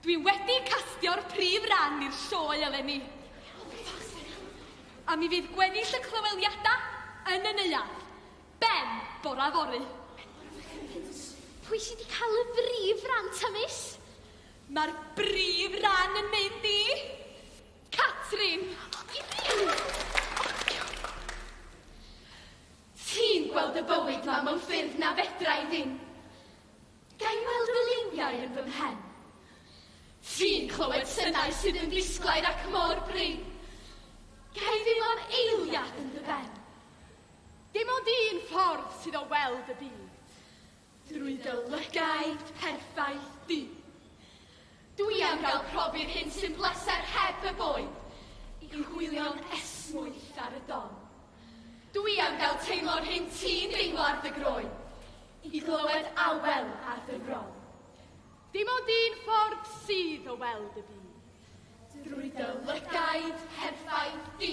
Dwi wedi castio'r prif ran i'r sioe eleni. A mi fydd gweddill y clyweliadau yn y neuadd. Ben, bora fory. Pwy sydd wedi cael y brif ran ta, miss? Mae'r brif ran yn mynd i... Catrin! Ti'n gweld y bywyd ma mewn ffyrdd na fedra i ddim. Ga i weld fy liwiau yn fy mhen? Ti'n clywed synau sydd yn ddisglair ac mor brin. Ga i ddim am eiliad yn dy ben? Dim ond un ffordd sydd o weld y byd. Drwy dy lygaid perffaith di. Dwi am gael profi'r hyn sy'n bleser heb y boen, i hwylio'n esmwyth ar y don. Dwi am gael teimlo'r hyn ti'n deimlo ar dy groen, i glywed awel ar dy fron. Dim ond un ffordd sydd o weld y byd. Drwy dy lygaid perffaith di.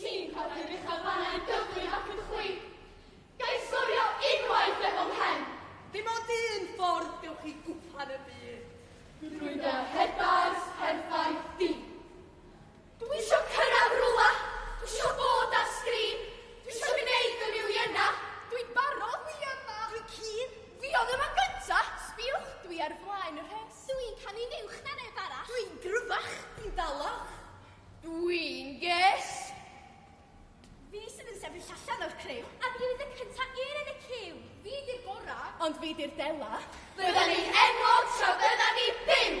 Ti'n colli'r uchaf fanna yn gyflym ac yn chwip. Ga i sgorio unwaith efo mhen? Dim ond un ffordd gewch chi gwpan y byd. Drwy dy rhedais perffaith di. Dwi isio cyrraedd rwla, dwi isio bod ar sgrin, dwi isio gwneud y miliynau. Dwi'n barod, dwi yma. Dwi'n cyn. Fi oedd yma gynta. Sbiwch, dwi ar flaen y rhes. Dwi'n canu'n uwch na neb arall. Dwi'n gryfach. Dwi'n dalach. Dwi'n ges! Fi sydd yn sefyll allan o'r criw. A fi oedd y cynta i'r yn y ciw. Fi di'r gora, ond fi di'r dela. Bydda ni'n enwog tra bydda ni byw!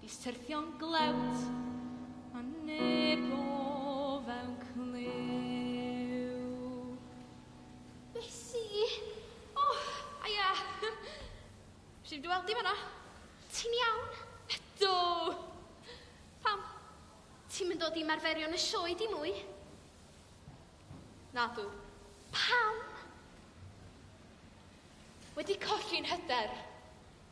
Fis tyrthio'n glewt, a neb o fewn clyw. Besi! O, aia! Rhif dy weld di fanna? Ti'n iawn? Ydw! Pam? Ti'n mynd dod i marferio yn y sioe di mwy? Na dw. Pam? Wedi colli'n hyder.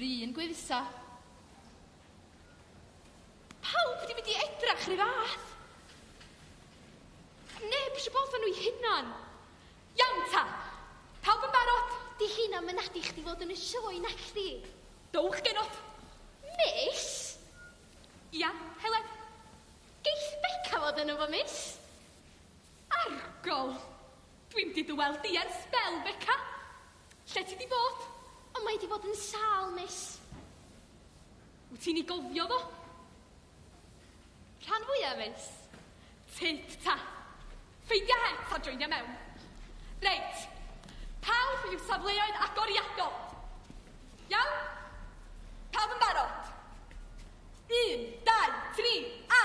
Run gwydsa. Pawb wedi mynd i edrach ry fath. Neb eisiau bod fan nhw'i hunan. Iawn ta. Pawb yn barod? Di hynna'n mynadu chdi fod yn y sioe nac chdi? Dowch genod. Miss? Ia, Helen. Geith Beca fod yno fo, miss? Argol! Dwi'm di dy weld di ers sbel, Beca. Lle ti di bod? O, mae di bod yn sâl, miss. Wyt ti'n ei gofio fo? Rhan fwya, miss. Tyd, ta. Ffeindia het a joinia mewn. Reit. Pawb i'w safleoedd agoriadol. Iawn? Pawb yn barod? Un, dau, tri, a!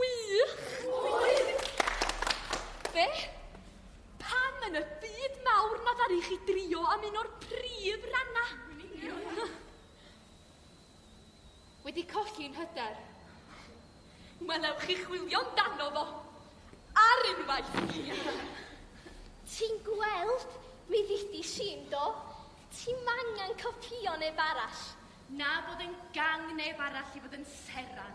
Wych! Wych! Be? Pam yn y byd mawr na ddaru chi drio am un o'r prif ranna? Wedi colli'n hyder. Wel, ewch chi chwilio amdano fo. Ar unwaith! Ti'n gweld? Mi ddidis i, yndo? Ti'm angen copïo neb arall. Na bod yn gang neb arall i fod yn seran.